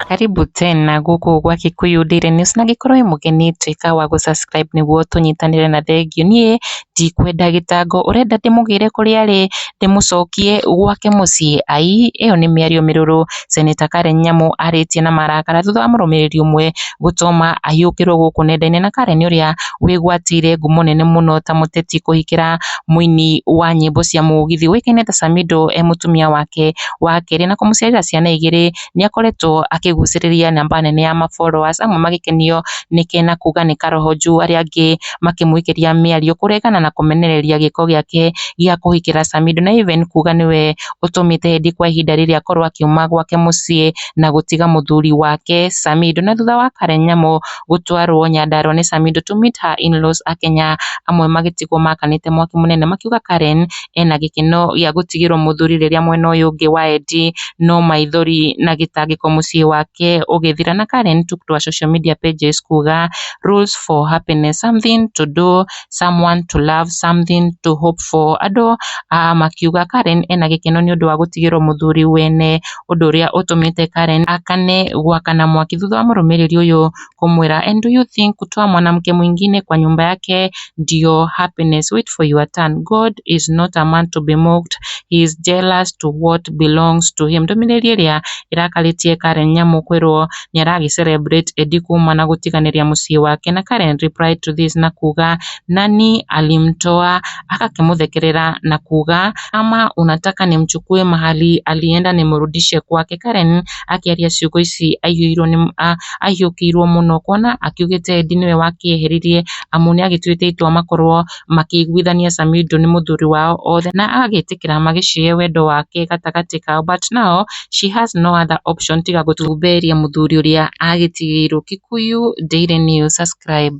Karibu tena gũkũ gwa Kikuyu Daily News na angĩkorwo wĩ mũgeni tuĩka wa gũ subscribe nĩguo tũnyitanĩre na thengiũ. Niĩ ndikwenda gĩtango, ũrenda ndĩmũgĩre kũrĩa arĩ, ndĩmũcokie gwake mũciĩ? Aii ĩyo nĩ mĩario mĩrũrũ. Seneta Karen Nyamu arĩtie na marakara thutha wa mũrũmĩrĩri ũmwe gũtũma ahiũkĩrwo gũkũ nenda-inĩ na Karen ũrĩa wĩgwatĩire ngumo nene mũno ta mũteti kũhikĩra mũini wa nyĩmbo cia mũgithi ũĩkaine ta Samido e mũtumia wake wa kerĩ na kũmũciarĩra ciana igĩrĩ nĩakoretwo akĩgucĩrĩria namba nene ya ma followers amwe magĩkenio nĩke na kuga nĩ karoho njuu arĩa angĩ makĩmũikĩria mĩario kũregana na kũmenereria gĩko gĩake gĩa kũhikĩra Samido na Iven kuga nĩwe ũtũmĩte Edi kwa ihinda rĩrĩ akorwo akiuma gwake mũciĩ na gũtiga mũthuri wake Samido na thutha wa Karen Nyamũ gũtwarwo Nyandarua nĩ Samido to meet her in-laws a Kenya amwe magĩtigwo makanĩte mwaki mũnene makiuga Karen ena gĩkeno gĩa gũtigĩrwo mũthuri rĩrĩa mwena ũyũ ũngĩ wa Edi no maithori na gĩtangĩko mũciĩ wake ũgĩthira na Karen took to her social media pages kuga rules for happiness, something to do, someone to love, something to hope for. Andũ ah, makiuga Karen ena gĩkeno nĩ ũndũ wa gũtigĩrwo mũthuri wene, ũndũ ũrĩa ũtũmĩte Karen akane gwakana mwaki thutha wa mũrũmĩrĩri ũyũ kũmwĩra and do you think kutoa mwanamke mwingine kwa nyumba yake ndio happiness? Wait for your turn. God is not a man to be mocked. He is jealous to what belongs to him. Ndũmĩrĩri ĩrĩa ĩrakarĩtie Karen Nyamu kwĩrwo nĩaragĩ celebrate Eddie kuuma na gũtiganĩria mũciĩ wake na Karen replied to this na kuuga Nani alimtoa agakĩmũthekerera na kuuga Ama unataka nimchukue mahali alienda nimrudishe kwake Karen akĩaria ciugo ici aiyũirwo nĩ ahiũkĩirwo mũno kuona akiugĩte Eddie nĩwe wakĩeheririe amu nĩagĩtuĩte itua makorwo makĩiguithania Samido nĩ mũthuri wao othe na agagĩtĩkĩra magĩcihe wendo wake gatagatĩ kao but now she has no other option tiga gũtumberia mũthuri ũrĩa agĩtigĩirwo. Kikuyu Daily News, subscribe.